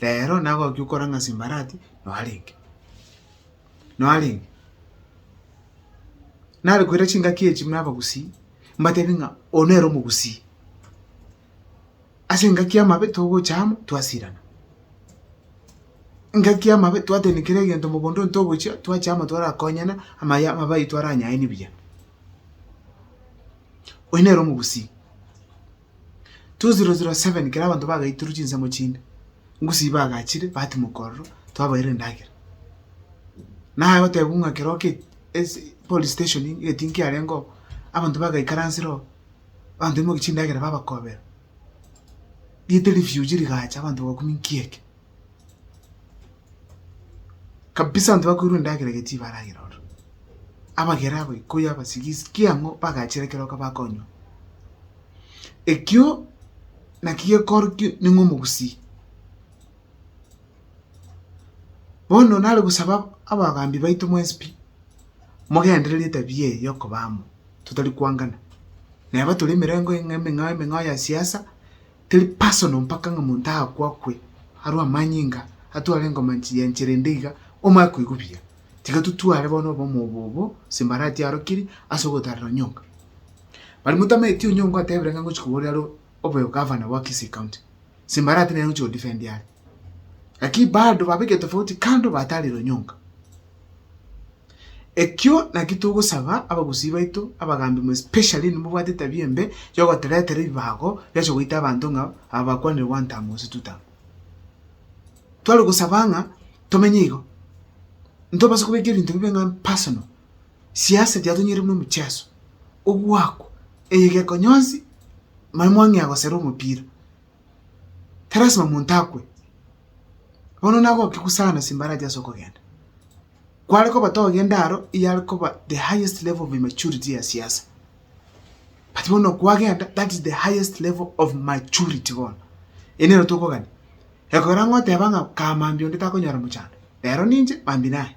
rero nagokia okorang'a simbarati narenge narenge narokoire chingaki echi buna abagusii mbatebie ng'a oyo nere omogusii ase engaki y'amabe togocha amo twasirana engaki y'amabe twatebia kera egento mogondo oyo togochia twacha amo twarakonyana amaya amabe aito aranyae ni buya oyo nere omogusii. 2007 ekero abanto bagaitorwe chinsemo chinde, Gusii bagachire batimoka ororo twabaeire endagera. Naye gotebiwa ng'a ekero oke ase police station egetinki kiarenge oo, abanto bagaikaransire oo, abanto baimokia chindagera babakobera. Riete rifuge rigacha abanto bagakumia nki eke. kabisa abanto bakoirwa endagera ege tibaragera ororo. Abagera abaikoi abasigisi ki ang'o bagachire ekero bakonywa. Ekio naki gekorokio ning'o omogusii. Bono nare gosaba abagambi baito mwensi pi mogenderere etabia eye yokoba amo totari koangana. Neba tore emerengo emeng'ao emeng'ao ya siasa. Teri personal mpaka ng'a monto aakwe akwe arue amanyinga atware engoma nchiyenchera ende iga omae koigwa buya. Tiga totware bono obomo obo obo Simbarati arokiri ase ogotarera Onyonga. Bari motameti Onyonga otebire ng'a ngochi koboria are obe Governor bwa Kisii County. Simbarati nere ochi godefendi are. Lakini bado babeke tofauti kando batarire Onyonga. Ekio nakio togosaba abagusii baito abagaambi mwe specially inwe mobwate etabia embe yogoteretera ebibago biacha goita abanto ng'a aba bakwanire one term gose two term. Tware gosaba ng'a tomenye igo, ntobasa kobeka ebinto bibe ng'a personal, siasa yatonyierire buna omocheso, ogwakwa, eyegeko nyonsi nonye mwang'ea gosera omopira, tilasima monto akwe. Bono nagoke gusana ase embaracha ase okogenda. kware kobatogia endaro eyare koba the highest level of immaturity ya siasa. But bono kwagenda that is the highest level of maturity bono. Eye nero tokogania. Ekogera ng'a oteba ng'a kaa Mambi onde takonyora mochando. Rero ninche Mambi naye.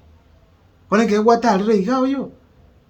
Bono ekero gwatarire iga oyoo,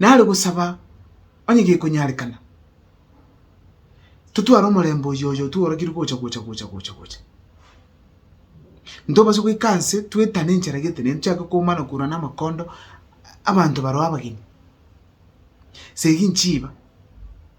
nare gosaba onye gekonyarekana, totware omorembe oyio oyo tworokirwe gocha, gocha, gocha, gocha, gocha. Ntobase goika nse twetane enchera getenene tochake komana korwa namakondo abanto baroo abageni. Seginchiba.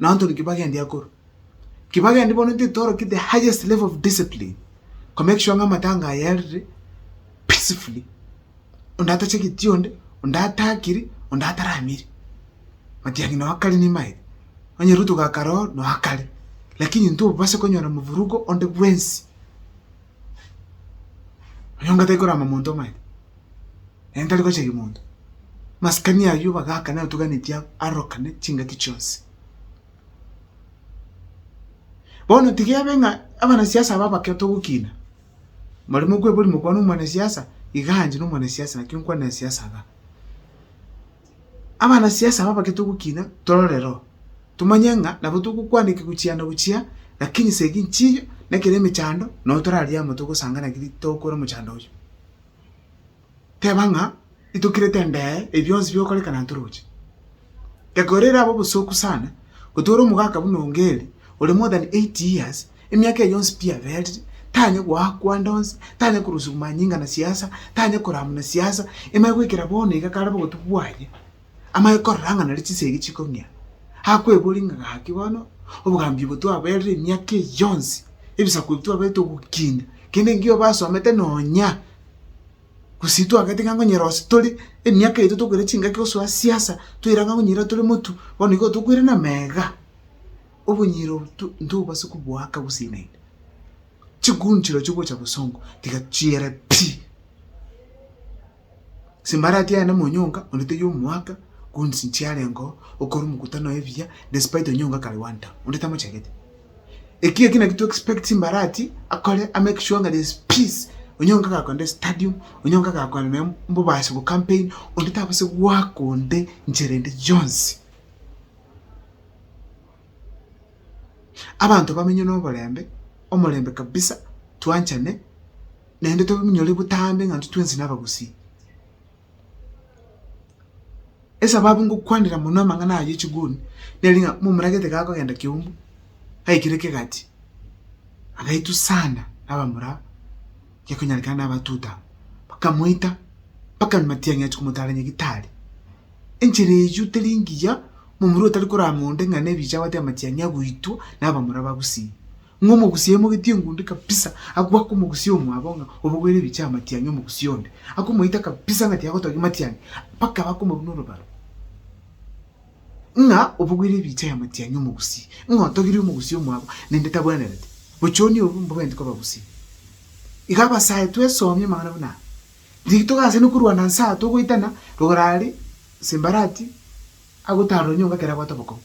nonto nkibagendi akorwa. Nkibagendi bono intwe torokie the highest level of discipline ko make sure ng'a amatanga aya erire peacefully, onde atachageti onde, onde atakiri, onde ataramiri. Matiang'i noo akare nimaeti, onye Ruto gakare oo noo akare, lakini intwe obase konyora movurugo onde bwensi, onyong'a taikorama monto omaete. naende tari gocharia monto. Masikani ayio bagaakana etuganetie arorokane chingaki chionsi. Bono tiga ebe ng'a abanasiasa aba abake togokina, mbare mokweboria mokwane omwanasiasa, iga aanche na omwanasiasa naki nkwane na siasa iga. Abanasiasa aba abake togokina torore reo, tomanye ng'a nabo togokwana ekigu chia na gochia lakini se eginchiiyo, nekere emechando, nabo toraria amo togosanga naki tokore omochando oyio. teba ng'a itokirete endee ebi bionsi bigokorekana ntoroche. Egoro ere abe obosooku sana, gotwara omogaka buna o Ngeri, ore more than eight years, emiaka eye yonsi pi aberire, tanya goakwa ande onsi, tanya korosiwa manyinga na siasa, tanya koramwa na siasa, ime goikera bono iga kare bogotwa bwaye, amanye korora ng'a nari chisegi chikong'ea, akweboria ng'a gaki bono obogambi obo twaberire emiaka eye yonsi, ebisaku ebi twaberete ogokinda, kende engiya obasomete nonya, gose twagete ng'a nkonyora gose tore emiaka yaito tokoira chingaki gosoa siasa, toira ng'a nkonyora tore motu, bono igo tokoirana ime iga, obonyiro obo to ntobobasa koboaka gose naende. Chiguni chirochio gocha bosongo tiga chiere pi. Ase embarati yaye namonyonga onde taiyo omoaka gonsi nchiarengo okora omokutano oye buya despite onyonga kare one time onde tamochagete. Eki eki naki to expect embarati akore a make sure ng'a there is peace onyonga gakonde stadium onyonga gakore noyo mbobasi bo campaign onde tabase goaka onde nchera ende yonsi. Abanto bamenye noborembe omorembe kabisa twanchane. naende tominyore botambe ng'a intwe twensi nabagusii. Esababu ngokwanera mono amang'ana aya ye chiguni, nere ng'a momoragete gakogenda kiumbu, gaikire kegati, agaitwa sana nabamura gekonyarekana na abatuta, bakamoita mpaka matiang'i achia komotara nyagetari. Enchera eyio teri engiya, momura otari koramora onde ng'a nebicha abwate amatiang'i agoitwa nabamura bagusii. Ng'a omogusia aimogetie engundi kabisa agwo akomogusia omwabo ng'a obogoire ebiche amatiangi omogusia onde, akomoita kabisa ng'a tiagotogia amatiangi mpaka bakomoruna orobaro. Ng'a obogoire ebiche aya amatiangi omogusia, ng'a otogirie omogusia omwabo naende tabwenerete, bochoni obo mbogenti koba bosio. Iga abasae twesomie amang'ana buna aya, riria togaachani korwana nse aa togoitana, rogoro aria Simbarati agotaara onyonga ekero abwate obokong'u.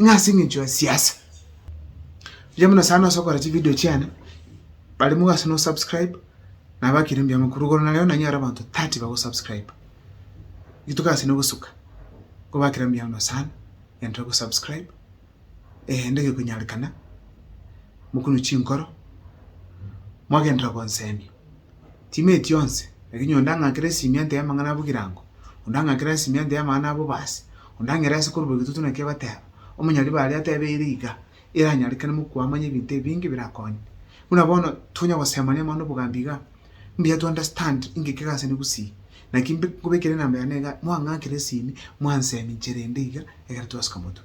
Ng'a ase eng'encho ya siasa. Mbuya mono sana ase okora chivideo chiane, barimo gose nosubscribe, nabo akire mbuya mono. Korwa igoro nareo nanyore abanto thirty bagosubscriba, rituko ase nogosuka, nkobakera mbuya mono sana, genderera gosubscribe, eende egekonyarekana, mokunwe chinkoro, mwagenderera gonsemia. Chimieti chionsi, lakini onde ang'akere esimiante y'amang'ana abogirango, onde ang'akere esimiante y'amang'ana abobaasi, onde ang'ere ase korwa egitutu naki egoteeba. Omonyariba aria ateebe ere iga, eranyarekane mokwamanya ebinto ebinge birakonye. Buna bono tonya gosemania amang'ana obogambi iga, mbuya to understand inki kegase ne gusii. Naki mbe nkobekere enamba yane iga, mwang'akere esimi, mwanseminchera ende iga, egere twasuka motwe.